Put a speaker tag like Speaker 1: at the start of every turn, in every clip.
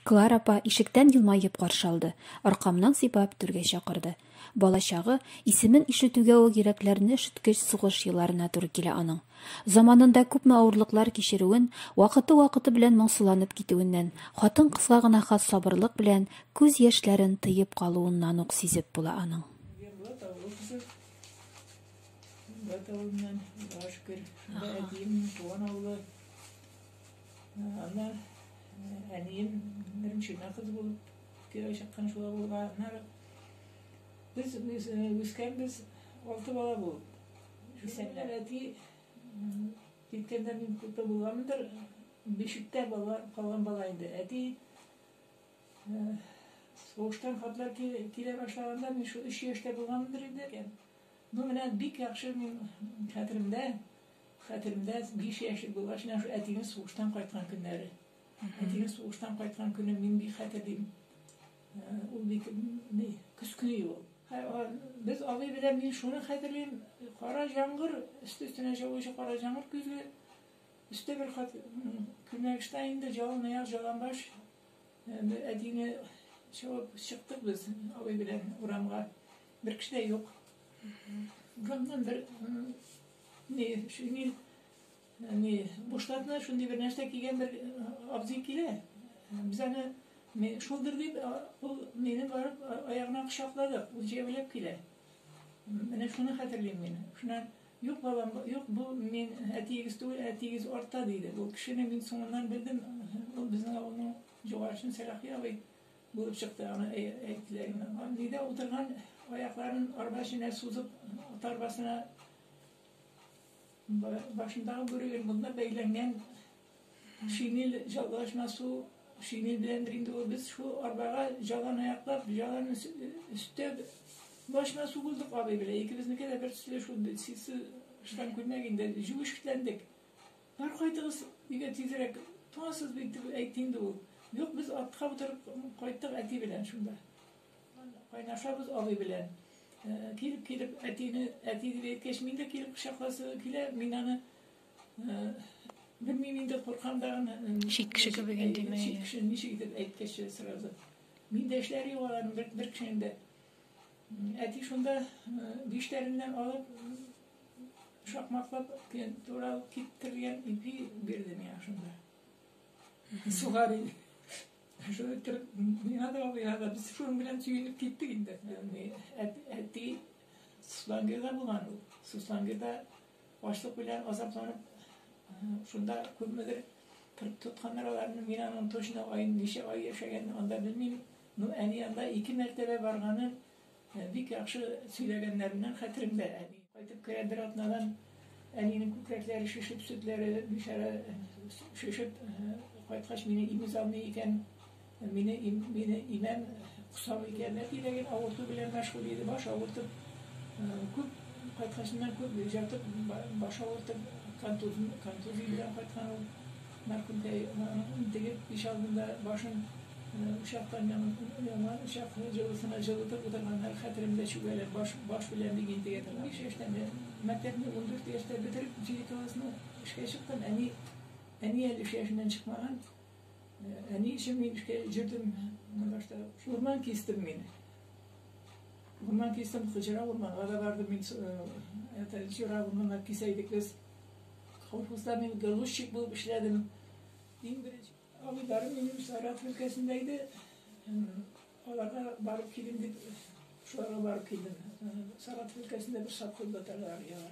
Speaker 1: Клара апа ишектән елмаеп каршы алды, аркамнан сыйпап түргә чакырды. Балачагы, исемен ишетүгә үк йөрәкләрне өшеткеч сугыш елларына туры килә аның. Заманында күпме авырлыклар кичерүен, вакыты-вакыты белән моңсуланып китүеннән, хатын-кызга гына хас сабырлык белән күз яшьләрен тыеп калуыннан ук сизеп була аның. Бат авылыннан, Аллага шөкер, шунда
Speaker 2: әтием, туган авылы. Аны әнием беренче генә кыз булып кияүгә чыккан шулай булган. Аннары без үскәнбез алты бала булып. Исәннәр әти киткәндә мин күпме булгандыр, бишектә бала калган бала инде. Әти сугыштан хатлар килә башлаганда мин шул өч яшьтә булгандыр инде. Ну менә бик яхшы мин хәтеремдә, хәтеремдә биш яшьлек булгач менә шул әтинең сугыштан кайткан көннәре. Әтинең сугыштан кайткан көне мин бик хәтерлим. Э, ул бит ни, көз көне ул. Без абый белән мин шуны хәтерлим, кара җаңгыр, өсте өстенә җавучы кара җаңгыр көзге, өстә бер кат күлмәк штанинда җалын аяк, җалан баш, Бер әтине чабып чыктык без абый белән урамга. Бер кеше дә юк. Урамнан бер ни шинель ни бушлатны шундый бер нәрсә кигән бер абзый килә. Без аны Мен шулдыр дип, ул мине барып аягына кочаклады, ул җәяүләп килә. Менә шуны хәтерлим мин. Шуннан Юк, балам, юк, бу мин әтиегез түгел, әтиегез артта, диде. Бу кешене мин соңыннан белдем, ул безнең авылның җугашын Сәлахи абый булып чыкты, аны әйттеләр генә. Нидә утырган аякларын арба эченә сузып, ат арбасына башындагы бүреген монда бәйләнгән Шинель җалашма су, шинель беләндер инде ул, без шул арбага җаланы аяклап, җаланы өстәп, башына су булдык абый белән, икебезнеке дә бер төсле шул ситсы штан күлмәк инде, җүешкетләндек. Бар кайтыгыз, өйгә тизрәк, туңасыз бит, дип әйтте инде ул. Юк, без атка утырып кайттык әти белән шунда. Кайнашабыз абый белән. Килеп-килеп әтине, әти дип әйткәч, мин дә килеп кочакласы килә, мин аны Белмим инде куркам да гына. Чит кеше кебек инде
Speaker 1: мен. Чит кеше ничек итеп
Speaker 2: әйткәче сразу. Мин дә эшләр юк аларның бер бер кешенең дә. Әти шунда биштәреннән алып шакмаклап тура киттергән ипи бирде миңа шунда. Сухари. Шуны иттереп, миңа да миңа да без шуның белән сөенеп киттек инде. Әти Суслангирда булган ул. Суслангирда Ачлык белән азапланып, шунда күпмедер кырт тотканнар аларны. Мин аның точно ай, ничә ай яшәгәнен анда белмим. Ну, әни анда ике мәртәбә барганын э, бик яхшы сөйләгәннәреннән хәтеремдә. Әни кайтып керә бер атнадан, әнинең күкрәкләре шешеп, сөтләре бичара э, шешеп э, кайткач мине имез алмый икән. Мине, мине имән косау икән, әти дә гел авырту белән мәшгуль иде, баш авыртып, күп кайткачыннан күп җатып, баш авыртып, контузия, контузия белән кайткан ул. Мәрхүмтәй интегеп иш алдында башын учактан яна учак җылысына җылытып утырганнар, хәтеремдә чүгәләп баш, баш белән бик интегә торган. Биш яшьтән мәктәпне ундүрт яшьтә бетереп, җиде классны эшкә чыктым, әни, әни әле өч яшеннән чыкмаган. Ә ни өчен мин эшкә йөрдем? Башта урман кистем мин. Урман кистем, Хуҗара урманга да бардым мин. Это Хуҗара урманнар кисә идек без. Колхозда мин галущик булып эшләдем. Иң беренче авылдарым минем Саратов өлкәсендә иде. Аларга барып килим дип, шуларга барып килдем. Саратов өлкәсендә бер садхуз батырлар яна.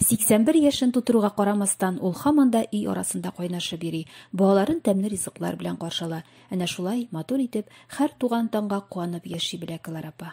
Speaker 1: 81 яшен тутыруга карамастан, ул хаман да өй арасында кайнашып йөри, балаларын тәмле ризыклар белән каршы ала. Әнә шулай, матур итеп, хәр туган таңга куанып яши белә Клара апа.